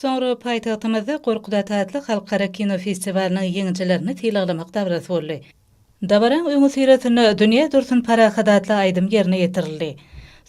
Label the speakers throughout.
Speaker 1: Soňra paýtagtymyzda Gorkut ata atly halkara kino festiwalynyň ýeňijilerini sylaglamak dabarasy boldy. Dabaraň öňüsyrasynda Dünýä dursun parahat atly aýdym ýerine ýetirildi.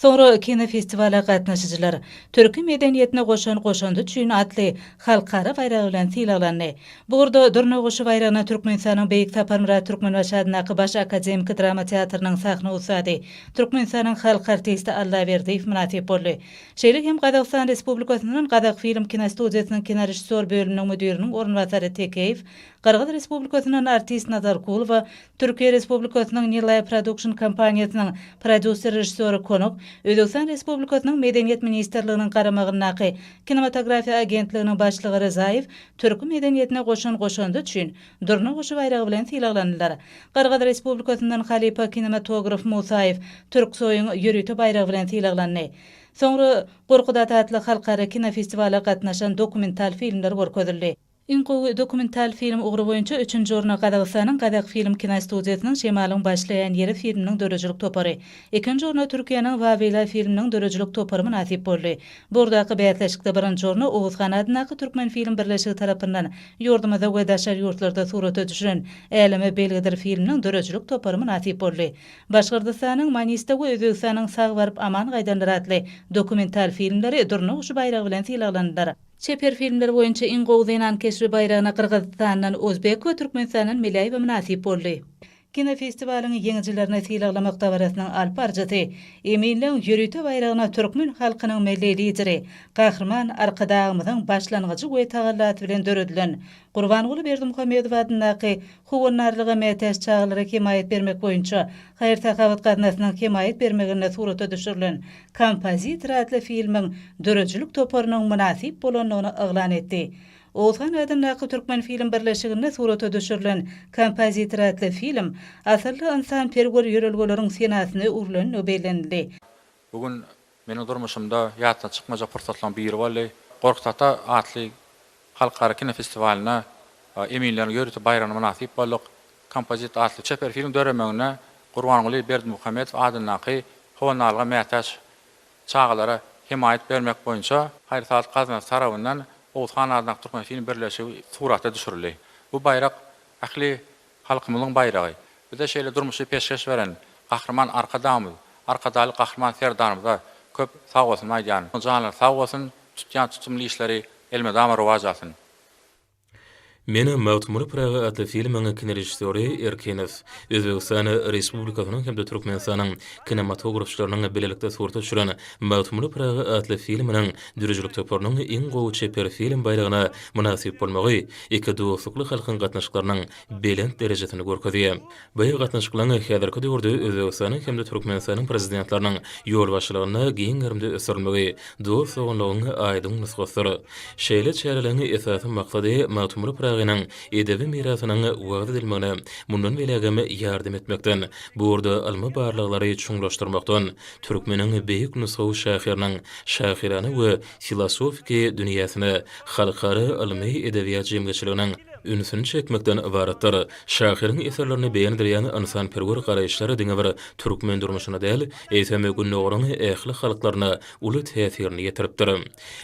Speaker 1: Soňra kinofestiwala gatnaşyjylar Türki medeniýetine goşan goşandy üçin atly halkara baýragy bilen sylaglandy. Bu ugurda Durna guşy baýragyna Türkmenistanyň Beýik Saparmyrat Türkmenbaşy adyndaky Baş akademiki drama teatrynyň sahna ussady, Türkmenistanyň halk artisti Allaberdiýew mynasyp boldy. Şeýle hem Gazagystan Respublikasyndan Gazagfilm kinostudiýasynyň kinorežissýor bölüminiň müdiriniň orunbasary Tekeýew, Gyrgyz Respublikasyndan artist Nazarkulowa, Türkiýe Respublikasynyň Nilay Production kompaniýasynyň prodýuser-režissýory Konuk, Özbegistan Respublikasynyň Medeniýet ministrliginiň garamagyndaky Kinematografiýa agentliginiň başlygy Ryzaýew türki medeniýetine goşan goşandy üçin Durna guşy baýragy bilen sylaglandylar. Gyrgyz Respublikasyndan halypa kinematograf Musaýew Türksoýuň ýörite baýragy bilen sylaglandy. Soňra Gorkudat atly halkara kinofestiwala gatnaşan dokumental filmler görkezildi. Iň gowy dokumental film ugry boýunça üçünji orna Gazagystanyň Gazakfilm kinostudiýasynyň Şemalyň başlaýan ýeri filminiň döredijilik topary, ikinji orna Türkiýäniň Wawila filminiň döredijilik topary mynasyp boldy. Bu ugurdaky bäsleşikde birinji orna Oguzhan adyndaky Türkmenfilm birleşigi tarapyndan Ýurdumyzda we daşary ýurtlarda surata düşüren Äleme belgidir filminiň döredijilik topary mynasyp boldy. Başgyrdystanyň Manista we Özbegistanyň Sag baryp aman gaýdanlar atly dokumental filmleri Durna guşy baýragy bilen sylaglandylar. Çeper filmler boýunça iň gowy zenan keşbi baýragyna Gyrgyzystandan Ozbek we Türkmenistandan Meläýewa mynasyp boldy. Kinofestiwalyň ýeňijilerini sylaglamak dabarasynyň alyp baryjysy eminligiň ýörite baýragyna türkmen halkynyň Milli Lideri Gahryman Arkadagymyzyň başlangyjy we tagallasy bilen döredilen Gurbanguly Berdimuhamedow adyndaky Howandarlyga mätäç çagalara hemaýat bermek boýunça haýyr-sahawat gaznasynyň hemaýat bermeginde surata düşürilen Kompozitor atly filmiň döredijilik toparynyň mynasyp bolandygyny yglan etdi. Oguzhan adyndaky Türkmenfilm birleşiginde surata düşürilen Kompozitor atly film asylly ynsanperwer ýörelgeleriň senasyna öwrülenligi bellenildi. Bu gün
Speaker 2: meniň durmuşymda ýatdan çykmajak pursatlaryň biri boldy. Gorkut ata atly halkara kinofestiwalyna Eminleriň ýörite baýragyna mynasyp bolduk. Kompozitor atly çeper filmiň döremegine Gurbanguly Berdimuhamedow adyndaky Honalga mätäç Çagalara hemaýat bermek boýunça haýyr-sahawat gaznasy tarapyndan Oguzhan adyndaky Türkmen-fin birleşigi surata düşürildi. Bu baýrak ähli halkymyzyň baýragy. Bize şeýle durmuşy peşgeş beren Gahryman Arkadagymyz, Arkadagly Gahryman Serdarymyza köp sagbolsun aýdýan. Janlary sag bolsun, tutýan tutumly işleri elmydama rowaç alsyn!
Speaker 3: Meni Magtymguly Pyragy atly filmiň kinorežissýory Erkinow, Özbegistan Respublikasynyň hem-de Türkmenistanyň kinematografçylarynyň bilelikde surata düşüren Magtymguly Pyragy atly filminiň döredijilik toparynyň iň gowy çeper film baýragyna mynasyp bolmagy iki dostlukly halkyň gatnaşyklarynyň belent derejesini görkezýär. Bu gatnaşyklaryň häzirki döwürde Özbegistanyň hem-de Türkmenistanyň Prezidentleriniň ýolbaşçylygynda giň gerimde ösdürilmegi dost-doganlygyň aýdyň nusgasydyr. Şeýle çäreleriň esasy maksady Magtymguly Pyragynyň edebi mirasynyň wagyz edilmegine mundan beýlägem ýardam etmekden, bu ugurda ylmy-barlaglary çuňlaşdyrmakdan, türkmeniň beýik nusgawy şahyrynyň şahyrana we filosofiki dünýäsine halkara ylmy-edebiýat jemgyýetçiliginiň ünsüni çekmekden ybaratdyr. Şahyryň eserlerine begendirýän ynsanperwer garaýyşlar diňe bir türkmen durmuşyna däl, eýsem, Gündogaryň ähli halklaryna uly täsirini ýetiripdir.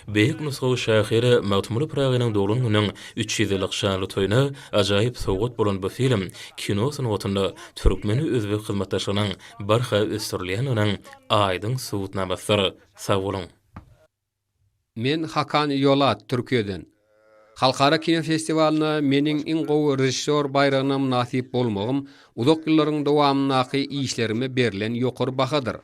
Speaker 3: Beýik nusgawy şahyr Magtymguly Pyragynyň doglan gününiň üç ýüz ýyllyk şanly toýuna ajaýyp sowgat bolan bu film kino sungatynda türkmen-özbek hyzmatdaşlygynyň barha ösdürilýändiginiň aýdyň subutnamasydyr. Sag boluň!
Speaker 4: Men Hakan Ýolat, Türkiýeden. Halkara kino festiwalyna meniň iň gowy režissýor baýragyna mynasyp bolmagym uzak ýyllaryň dowamyndaky işlerime berlen ýokary bahadyr.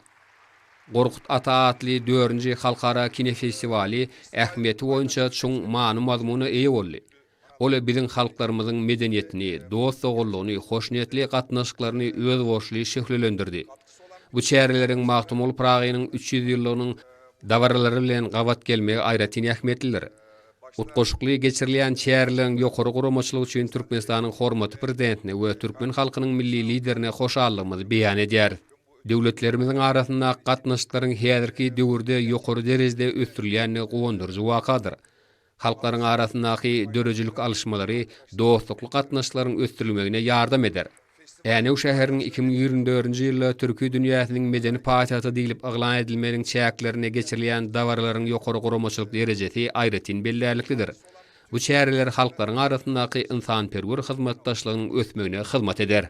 Speaker 4: Gorkut ata atly dördünji halkara kinofestiwaly ähmiýeti boýunça çuň many-mazmuna eýe boldy. Ol biziň halklarymyzyň medeniýetini, dost-doganlygyny, hoşniýetli gatnaşyklaryny özboluşly şöhlelendirdi. Bu çäreleriň Magtymguly Pyragynyň üç ýüz ýyllygynyň dabaralary bilen gabat gelmegi aýratyn ähmiýetlidir. Utgaşykly geçirilýän çäreleriň ýokary guramaçylygy üçin Türkmenistanyň hormatly Prezidentine we türkmen halkynyň Milli Liderine hoşallygymyzy beýan edýäris. Döwletlerimiziň arasyndaky gatnaşyklaryň häzirki döwürde ýokary derejede ösdürilýändigi guwandyryjy wakadyr. Halklaryň arasyndaky döredijilik alyşmalary dostlukly gatnaşyklaryň ösdürilmegine ýardam eder. Änew şäheriniň iki müň ýigrimi dördünji ýylda Türki dünýäsiniň medeni paýtagty diýlip yglan edilmeginiň çäklerinde geçirilýän dabaralaryň ýokary guramaçylyk derejesi aýratyn bellärliklidir. Bu çäreler halklaryň arasyndaky ynsanperwer hyzmatdaşlygynyň ösmegine hyzmat eder.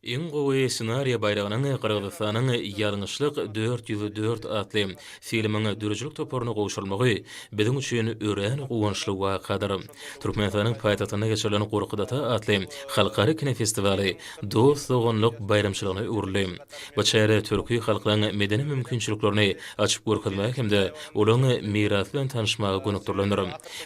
Speaker 4: Iň gowy
Speaker 3: ssenariýa baýragynyň Gyrgyzystanyň Ýalňyşlyk dört ýüz dört atly filmiň döredijilik toparyna gowşurylmagy biziň üçin örän guwançly wakadyr. Türkmenistanyň paýtagtynda geçirilen Gorkut-ata atly halkara kinofestiwaly dost-doganlyk baýramçylygyna öwrüldi. Bu çäre türki halklaryň medeni mümkinçiliklerini açyp görkezmäge hem-de olaryň mirasy bilen tanyşmaga gönükdirilendir.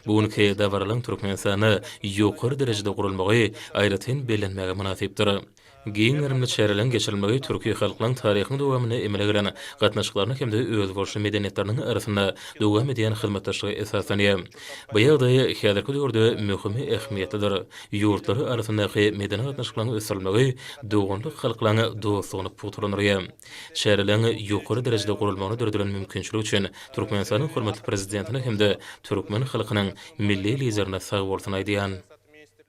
Speaker 3: Bu günki dabaralaryň Türkmenistanda ýokary derejede guralmagy aýratyn bellenmäge mynasypdyr. Giň gerimli çäreleriň geçirilmegi türki halklaryň taryhyň dowamynda emele gelen gatnaşyklaryna hem-de özboluşly medeniýetleriniň arasynda dowam edýän hyzmatdaşlyga esaslanýar. Bu ýagdaý häzirki döwürde möhüm ähmiýetlidir, ýurtlar arasyndaky medeni gatnaşyklaryň ösdürilmegi doganlyk halklaryň dostlugyny pugtalandyrýar. Çäreleriň ýokary derejede guralmagyna döredilen mümkinçilik üçin Türkmenistanyň hormatly Prezidentine hem-de türkmen halkynyň Milli Liderine sagbolsun aýdýan.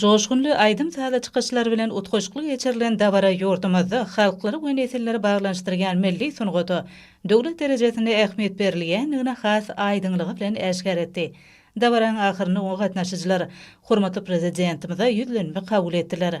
Speaker 1: Joşgunly aýdym-saza çykyşlar bilen utgaşykly geçirilen dabara ýurdumyzda halklary we nesilleri baglanyşdyrýan milli sungata döwlet derejesinde ähmiýet berilýändigini has aýdyňlygy bilen äşgär etdi. Dabaranyň ahyrynda oňa gatnaşyjylar hormatly Prezidentimize ýüzlenme kabul etdiler.